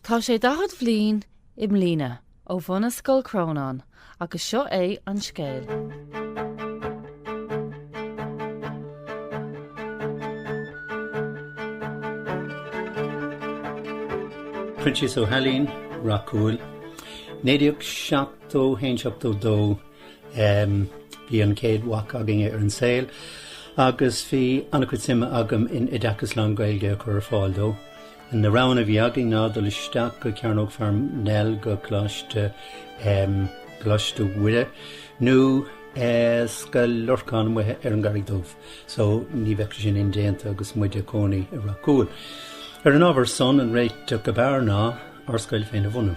Tá sé 40 bhliain i mbliana ó bunaíodh Scoil Chrónáin agus seo é an scéal. Proinsias Ó hAilín, Ráth Cúil, 1971, 72, ehm, Bhí an chéad mhac againne ar an saol agus bhí an-chuid suime agam in oideachas lán-Ghaeilge a chur ar fáil dó. Na roghanna a bhí againn ná dul isteach go Cearnóg Pharnell go Coláiste Coláiste Mhuire nó Scoil Lorcáin amuigh ar an gCarraig Dhubh so ní bheadh sé sin indéanta agus muid ag cónaí i Ráth Cúil. Ar an ábhar san, an réiteach ab fhearr ná ár scoil féin a bhunú.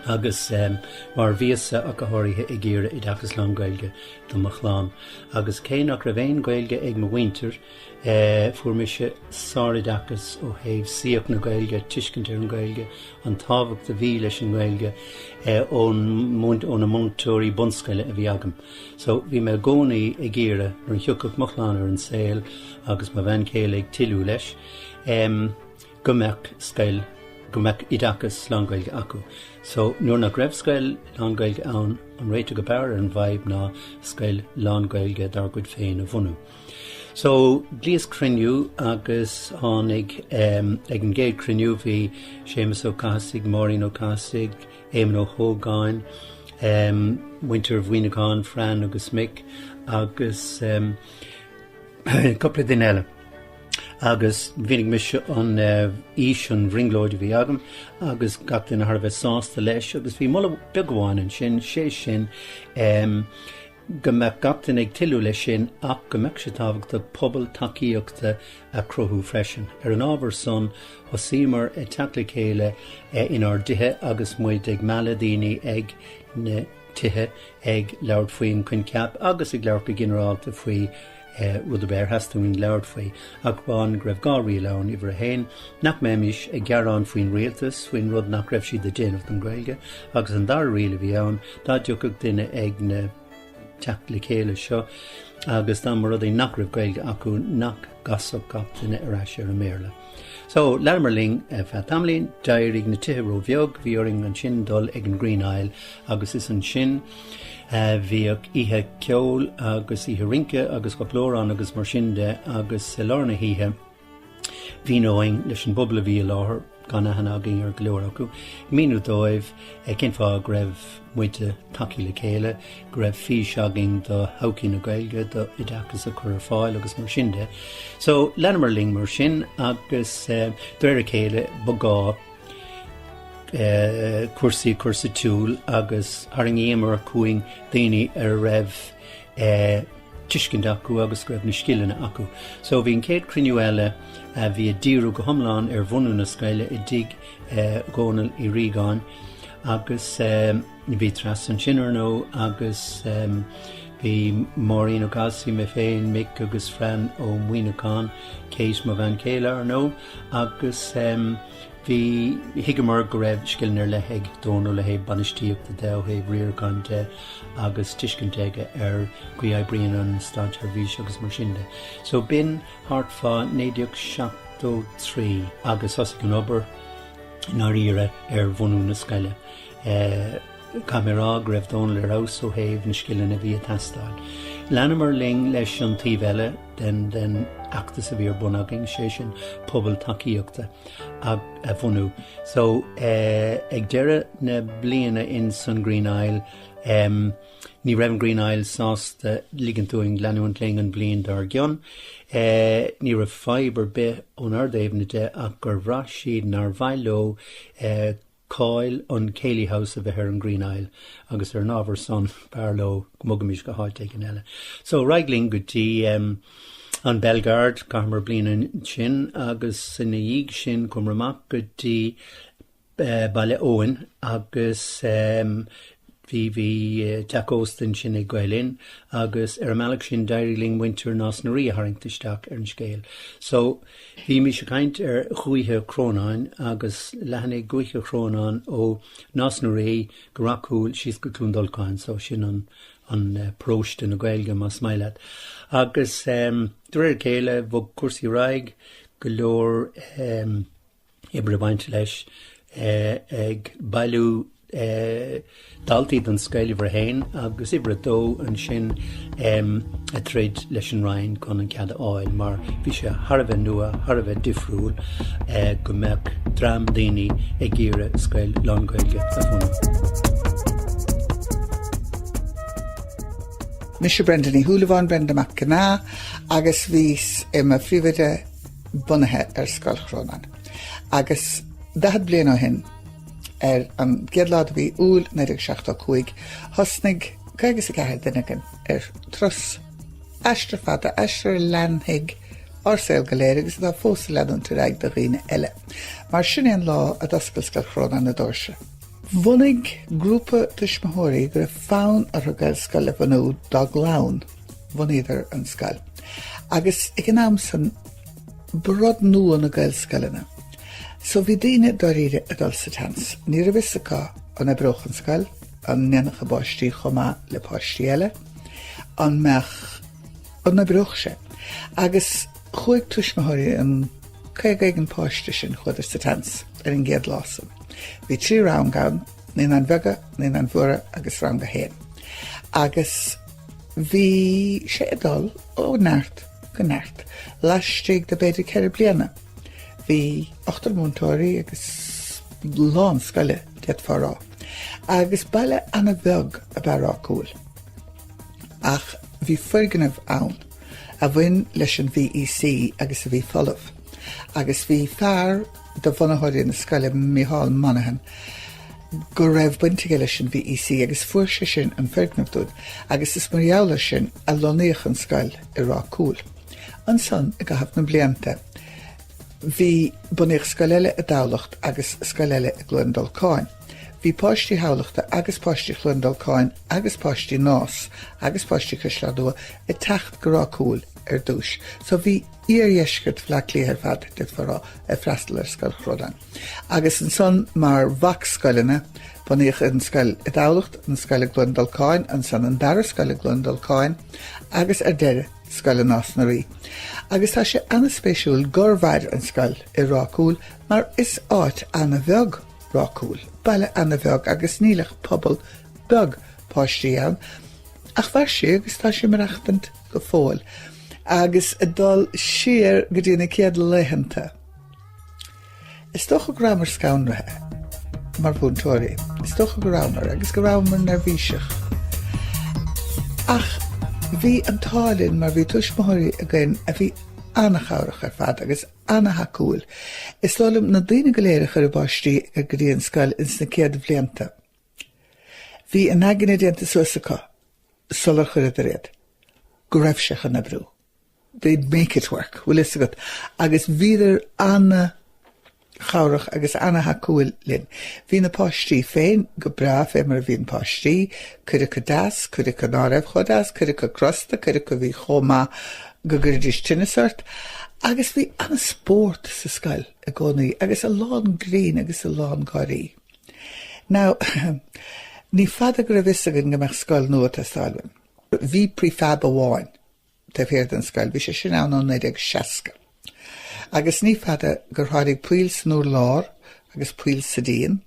agus um, mar bhíos-sa ach go háirithe ag iarraidh oideachas lán-Ghaeilge do mo chlann. Agus cé nach raibh aon Gaeilge ag mo mhuintir, Fuair mise sároideachas ó thaobh saíocht na Gaeilge, tuiscint ar an Ghaeilge, an tábhacht a bhí leis an nGaeilge ón, ó na múinteoirí bunscoile a bhí agam. So, bhí mé i gcónaí ag iarraidh, nuair a thiocfadh mo chlann ar an saol agus mo bhean chéile ag toiliú leis, em, go mbeadh scoil, go mbeadh oideachas lánGhaeilge acu. So, nuair nach raibh scoil lánGhaeilge ann, an réiteach ab fhearr ar an bhfadhb ná scoil lánGhaeilge dár gcuid féin a bhunú. So, ghlaos cruinniú agus tháinig, ehm, ag an gcéad cruinniú bhí Séamus Ó Cathasaigh, Máirín Ó Cathasaigh, Éamon Ó hÓgáin, ehm, muintir Mhaoineacháin, Fran agus Mick, agus, ehm, cúpla duine eile. Agus mhínigh mise an, eh, fhís, an bhrionglóid a bhí agam agus gach éinne thar a bheith sásta leis agus bhí moladh beag amháin ansin, sé sin, ehm, go mbeadh gach duine ag toiliú leis sin ach go mbeadh sé tábhachtach pobal tacaíochta a chruthú freisin. Ar an ábhar san, thosaíomar ag teacht le chéile inár dtithe agus muid ag mealladh daoine chuig na tithe ag labhairt faoin choincheap agus ag labhairt go ginearálta faoi aon rud ar bith ar theastaigh uainn labhairt faoi, ach amháin go raibh dhá riail ann, uimhir a haon, nach mbeimis ag gearán faoin rialtas faoin rud nach raibh siad a dhéanamh don Ghaeilge, agus an dara riail a bhí ann, dá dtiocfadh duine chuig na teacht le chéile seo agus dá mba rud é nach raibh Gaeilge acu nach gcasfadh gach duine ar ais ar an mBéarla. So, leanamar linn ar feadh tamaillín, d'éirigh na tithe ró-bheag, bhí orainn ansin dul chuig an Green Isle agus is ansin bhíodh oíche ceoil agus oíche rince agus filíocht ann agus mar sin de agus sa lár na hoíche mhíneoinn leis an bpobal a bhí i láthair, gan aithne againn ar go leor acu, míniú dóibh cén fáth go raibh muid ag teacht le chéile. go raibh fís againn do thodhchaí na Gaeilge, do oideachas a chur ar fáil agus mar sin de. So, leanamar linn mar sin agus de réir a chéile ba ghá cúrsaí a chur sa tsiúl agus tharraingíomar chugainn daoine a raibh tuiscint acu agus go raibh na scileanna acu. So, bhí an chéad chruinniú eile a bhí ag díriú go hiomlán ar bhunú na scoile i dTigh Dhónaill Uí Riagáin agus, Bhí Treasa ansin, ar ndóigh, agus bhí Máirín Ó Galsaigh, mé féin, Mick agus Fran Ó Muíneacháin, Kate, mo bhean chéile, ar ndóigh, agus bhí, thuigeamar go raibh scileanna ar leith ag Dónall ó thaobh bainistíochta de, ó thaobh riaracháin de agus tuiscint aige ar an gcaoi a oibríonn an státsheirbhís agus mar sin de. So b'in thart fá naoi déag seachtó trí agus thosaigh an obair i ndáiríre ar bhunú na scoile. Caithfidh mé a rá go raibh Dónal ar fheabhas ó thaobh na scileanna a bhí ag teastáil. Leanamar linn leis an taobh eile den fheachtas a bhí ar bun againn, sé sin pobal tacaíochta a bhunú. So ag deireadh na bliana insan Green Isle, ní raibh an Green Isle sásta ligint dúinn leanúint linn an bhliain dár gcionn. Ní raibh fadhb ar bith ónár dtaobhna de ach gur bhraith siad nár mhaith leo cáil an Céilí House a bheith ar an Green Isle agus ar an ábhar san b'fhearr leo go mbogfaimis go háit éigin eile. So ar aghaidh linn go dtí em, an Belgard, caitheamar bliain ansin agus ina dhiaidh sin chuamar amach go dtí eh, Baile Eoghain agus em, Bhí teach ósta ansin ag Gael Linn agus ar an mbealach sin d'éirigh linn muintir Nás na Rí a tharraingt isteach ar an scéal. So, bhímís ag caint ar Dhúiche Chrónáin agus leathnaigh Dúiche Chrónáin ó Nás na Rí go Ráth Cúil síos go Cluain Dolcáin, so sin an an eh, paróiste na Gaeilge más maith leat. Agus um, de réir a chéile bhog cúrsaí ar aghaidh go leor um, oibre ag baint leis ag bailiú daltaí don scoil uimhir a haon agus uimhir a dó ansin ag troid leis an Roinn chun an cead a fháil mar bhí sé thar a bheith nua, thar a bheith difriúil go mbeadh dream daoine ag iarraidh scoil lán-Ghaeilge a bhunú. Mise Brenda Ní Shúilleabháin, Brenda Mac Gnath, agus bhíos i mo phríomhoide, bunaithe ar Scoil Chrónáin. Agus daichead bliain ó shin, ar an gcéad lá de mhí Iúil 1975, thosnaigh caoga is a ceathair duine againn ar turas, aistear fada, aistear a leanfadh ár saol go léir agus atá fós ag leanúint ar aghaidh do dhaoine eile. Mar sin é an lá a d'oscail Scoil Chrónáin na doirse. Bhunaigh grúpa tuismitheoirí go raibh fonn orthu Gaelscoil a bhunú dá gclann. bhunaíodar an scoil agus ag an am san ba rud nua na gaelscoileanna. So bhí daoine dáiríre ag dul sa tseans. Ní raibh fhios acu an oibreodh an scoil, an ndéanfadh a bpáistí chomh maith le páistí eile, an mbeadh, an oibreodh sé. Agus chuaigh tuismitheoirí an caoga éigin páiste sin, chuadar sa tseans ar an gcéad lá san. Bhí trí rang ann, naonáin bheaga, naonáin mhóra agus rang a haon. Agus. Bhí sé ag dul ó neart go neart laistigh de b'fhéidir ceithre bliana. Bhí ochtar múinteoirí agus lán scoile, d'fhéadfá a rá, agus baile an-bheag ab ea Ráth Cúil. Ach bhí foirgneamh ann a bhain leis an VEC agus a bhí folamh, agus bhí fear, de bhunaitheoirí na scoile, Mícheál Manacháin, go raibh baint aige leis an VEC agus fuair sé sin an foirgneamh dúinn agus is mar gheall ar sin a lonnaíodh an scoil i Ráth Cúil. Ansan, i gcaitheamh na mblianta, bhí bunaíodh scoil eile i dTamhlacht agus scoil eile i gCluain Dolcáin. Bhí páistí Thamhlachta agus páistí Chluain Dolcáin agus páistí Nás agus páistí Cois Life ag teacht go Ráth Cúil ar dtús. So bhí. Iardheisceart Bhleá Cliath ar fad, d'fhéadfá a rá, ag freastal ar Scoil Chrónáin. Agus ansan mar mhacscoileanna, bunaíodh an scoil i dTamhlacht, an scoil i gCluain Dolcáin, ansan an dara scoil i gCluain Dolcáin, agus ar deireadh, scoil i Nás na Rí. Agus tá sé ana-spéisiúil gur mhair an scoil i Ráth Cúil mar is áit ana-bheag Ráth Cúil, baile ana-bheag agus níl ach pobal beag páistí ann. Ach mhair sí agus tá sí ag maireachtaint. go fóill agus ag dul siar go dtí na céad laethanta. Is dócha go rabhamar scanraithe mar mhúinteoirí. Is dócha go rabhamar agus go rabhamar neirbhíseach. Ach bhí an t-ádh linn mar bhí tuismitheoirí againn a bhí an-chabhrach ar fad agus an-thacúil. Is dóigh liom na daoine go léir a chuir a bpáistí go dtí an scoil ins na céad bhlianta. Bhí a n-aigne déanta suas acu sular chuireadar é, go raibh sé chun oibriú. They'd make it work, bhfuil fhios agat, agus bhíodar ana-chabhrach agus ana-thacúil linn. Bhí na páistí féin go breá, fé mar a bhíonn páistí, cuid acu deas, cuid acu ná raibh chomh deas, cuid acu crosta, cuid acu a bhí chomh maith go gcuirfidís teinneas ort, agus bhí ana-spórt sa scoil i gcónaí agus a lán grinn agus a lán gáirí. Now, ní fada go raibh fhios againn go mbeadh scoil nua ag teastáil uainn. Bhí prefab amháin taobh thiar den scoil, bhí sé sin ann ó 1960. Agus ní fada gur tháinig poill san urlár agus poill sa díon,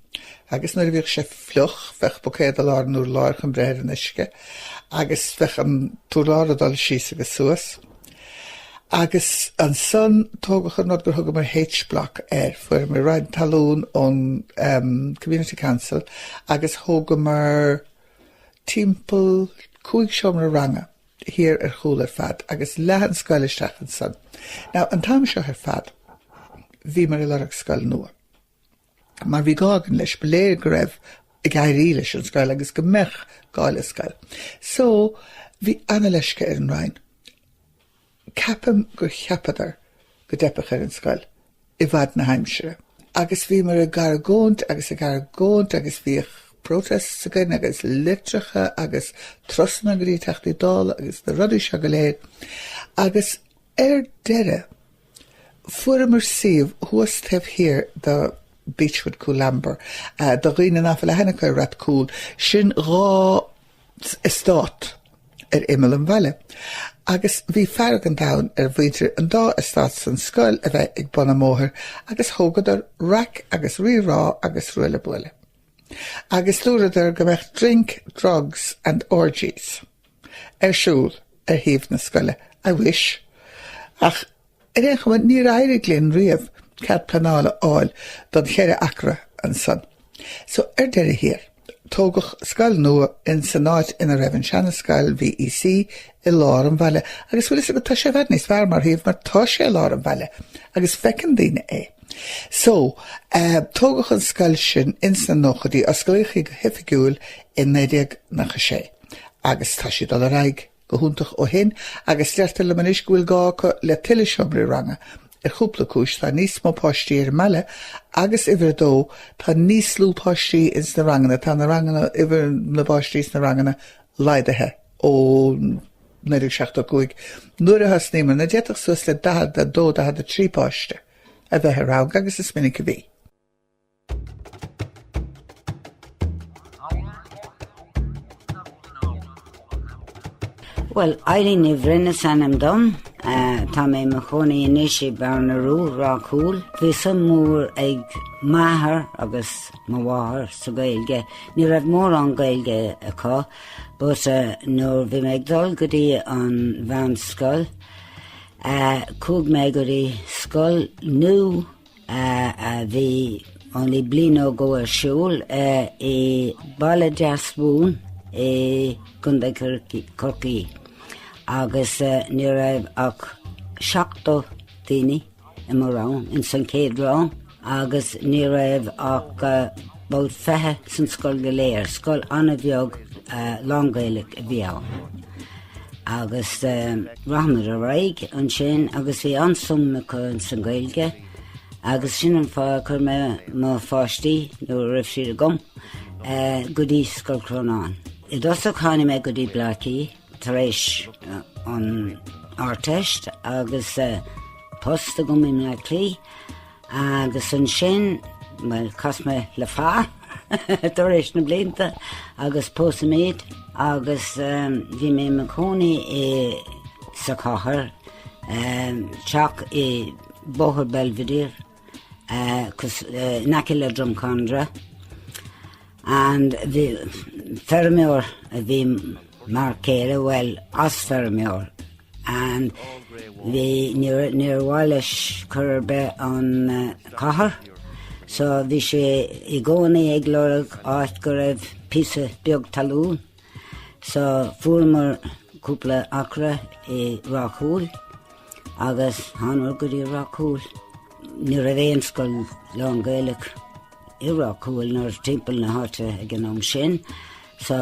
agus nuair a bhíodh sé fliuch, bheadh buicéad i lár an urláir chun breith ar an uisce, agus bheadh an t-urlár ag dul síos agus suas. Agus ansan tógadh an rud gur thugamar H-Block air, fuaireamar roinnt talún ón Community Council agus thógamar timpeall cúig seomra ranga thiar ar chúl ar fad agus leath an scoil isteach ansan. Now an t-am seo ar fad bhíomar ag lorg scoil nua. mar bhí gá againn leis, ba léir go raibh ag éirí leis an scoil agus go mbeadh gá le scoil. So, bhí ana-leisce ar an Roinn. Ceapaim gur cheapadar go dteipfeadh ar an scoil i bhfad na haimsire. Agus bhíomar ag argóint agus ag argóint agus bhíodh protests againn agus litreacha agus turasanna go dtí Teachtaí Dála agus na rudaí seo go léir agus ar deireadh, Fuaireamar suíomh thuas taobh thiar de Beechwood, Coolamber. Do dhaoine nach bhfuil aithne acu ar Rath Cúil, sin dhá eastát ar imeall an bhaile. Agus bhí fearg an domhain ar mhuintir an dá eastát san scoil a bheith ag bun an bhóthair agus thógadar raic agus rí-rá agus ruaille buaille. agus dúradar go mbeadh drink, drugs and orgies ar siúl ar shuíomh na scoile. I wish. Ach ar aon chuma, níor éirigh linn riamh cead pleanála a fháil don cheithre acra ansan. So ar deireadh thiar, tógadh scoil nua in san áit ina raibh an seana-scoil VEC i lár an bhaile agus bhfuil fhios agat tá sé i bhfad níos fearr mar shuíomh mar tá sé i lár an bhaile agus feiceann daoine é. So, tógadh an scoil sin in sna nóchaidí, osclaíodh í go hoifigiúil i 1996 agus tá sé ag dul ar aghaidh go hiontach ó shin agus deirtear liom anois go bhfuil gá acu le tuilleadh seomraí ranga ar chúpla cúis, tá níos mó páistí ar an mbaile agus uimhir a dó, tá níos lú páistí in sna ranganna, tá na ranganna, uimhir na bpáistí sna ranganna laghdaithe. ó 1975, nuair a thosnaíomar, ná d'fhéadfadh suas le 42, 43 páiste a bheith i rang, agus is minic a bhí. Bhuel, Eileen Ní Bhroin is ainm dom. Tá mé i mo chónaí anois i Bearna Rua, Ráth Cúil. Bhí suim mhór ag m'athair agus mo mháthair sa Ghaeilge. Ní raibh mórán Gaeilge acu, But nuair bhí mé ag dul go dtí an mheánscoil chuaigh mé go dtí scoil nua a bhí only bliain nó dhó ar siúl i Baile Deasumhan i gContae Chorcaí agus ní raibh ach seachtar daoine i mo rang ins an chéad rang agus ní raibh ach about fiche san scoil go léir, scoil an-bheag lán-Gaeilge a bhí ann agus rachaimid ar aghaidh ansin agus bhí an-suim acu ins an Gaeilge agus sin an fáth a chuir mé mo pháistí, nuair a raibh siad agam, go dtí Scoil Chrónáin. I dtosach tháinig mé go dtí Bleá Cliath tar éis an Ardteist agus post agam i mBleá Cliath agus ansin, bhuel, chas mé le fear tar éis na blianta agus pósadh muid agus bhí mé i mo chónaí i sa chathair, teach i Bóthar Belvedere. cos in aice le Drumcondra and bhí feirmeoir a bhí mar céile bhuel as feirmeoir and bhí níor níor mhaith leis chor ar bith an cathair so bhí sé i gcónaí ag lorg áit go raibh píosa beag talún So fuaireamar cúpla acra i Ráth Cúil agus thánamar go dtí Ráth Cúil. Ní raibh aon scoil lán-Ghaelach i Ráth Cúil nó timpeall na háite ag an am sin. So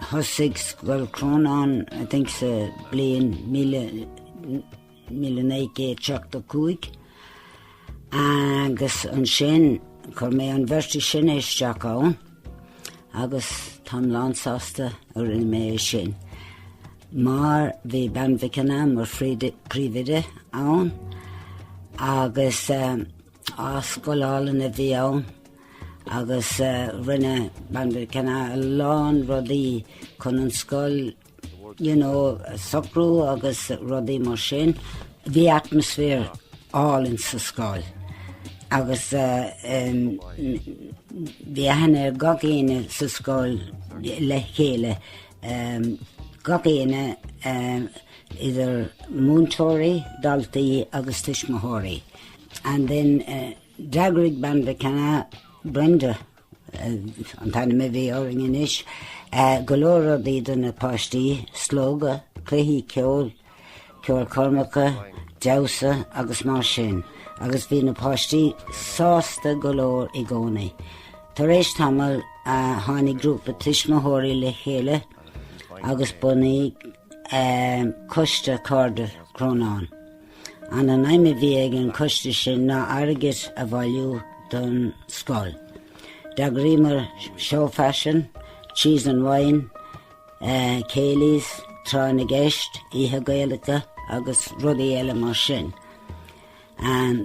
thosaigh Scoil Chrónáin I think sa bliain míle 1975, agus ansin chuir mé an bheirt is sine isteach ann agus táim lán sásta a rinne mé é sin mar bhí Bean Mhic Cana mar phríomhoide ann agus á scoil álainn a bhí ann agus rinne Bean Mhic Cana a lán rudaí chun an scoil you know, socrú agus rudaí mar sin, bhí atmaisféar álainn sa scoil agus bhí aithne ag gach éinne sa scoil le chéile, gach éinne, idir múinteoirí, daltaí agus tuismitheoirí. And then d'eagraigh Bean Mhic Ginneá, Brenda, an t-ainm a bhí uirthi anois, go leor rudaí do na páistí, Slógadh, cluichí, ceol, ceolchoirmeacha, damhsa agus mar sin, agus bhí na páistí sásta go leor i gcónaí. Tar éis tamaill, tháinig grúpa tuismitheoirí le chéile agus bunaíodh Coiste Cairde Chrónáin. An an aidhm a bhí ag an coiste sin ná airgead a bhailiú don scoil? D'eagraíomar seó faisin, Cheese and Wine, céilís, tráth na gceist, oícheanta Gaelacha agus rudaí eile mar sin.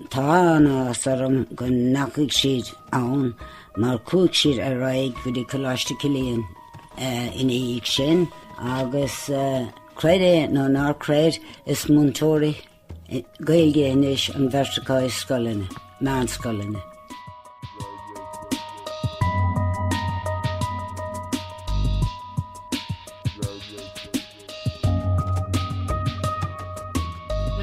Tá an-áthas orm go ndeachaigh siad ann mar chuaigh siad ar aghaidh go dtí Coláiste Chilliain ina dhiaidh sin agus, Creid é nó nár creid, is múinteoirí Gaeilge anois an bheirt acu i scoileanna, meánscoileanna.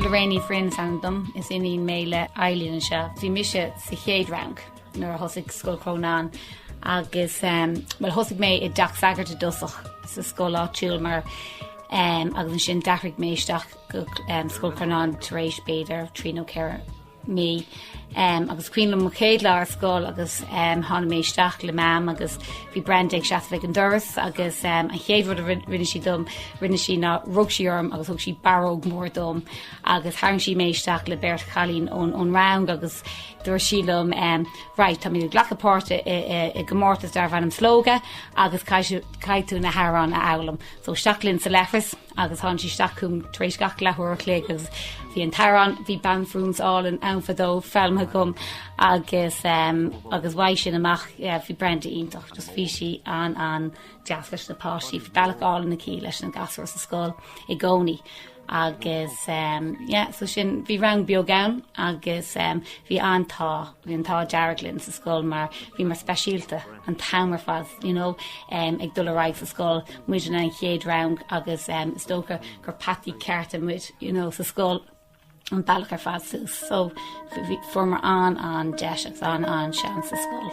Lorraine Ní Bhroin is ainm dom, is iníon mé le Eileen anseo. Bhí mise sa chéad rang. nuair a thosaigh Scoil Chrónáin agus bhuel thosaigh mé i dTeach Sagard i dtosach sa scoil áitiúil mar agus ansin d'athraigh mé isteach go Scoil Chrónáin tar éis b'fhéidir trí nó ceithre mí agus chuaigh mé mo chéad lá ar scoil agus tháinig mé isteach le Meam agus bhí Brenda ag seasamh ag an doras agus an chéad rud a rinne sí dom rinne sí ná rug sí orm agus thug sí barróg mór dom agus tharraing sí mé isteach le beirt chailín ón rang agus Dúirt sí liom, 'Right, táimid ag glacadh páirt i gcomórtas darbh ainm Slógadh agus caithfidh tú na hamhráin a fhoghlaim. So isteach linn sa leithreas agus tháinig sí isteach chugam tar éis gach leathuair a chloig agus bhí an t-amhrán, Bhí Banphrionsa Álainn ann fadó, foghlamtha agam agus agus uaidh sin amach, bhí Brenda iontach, just bhí sí an-an deas leis na páistí, bhí bealach álainn aici leis na gasúir sa scoil i gcónaí. Agus yeah, so sin, bhí rang beag ann agus bhí an t-ádh, bhí an t-ádh dearg linn sa scoil mar bhíomar speisialta an t-am ar fad, you know, ag dul ar aghaidh sa scoil, muidne an chéad rang agus is dócha gur peataí cearta muid, you know, sa scoil an bealach ar fad suas, so bhí, fuaramar an-an-deis agus an-an-seans sa scoil.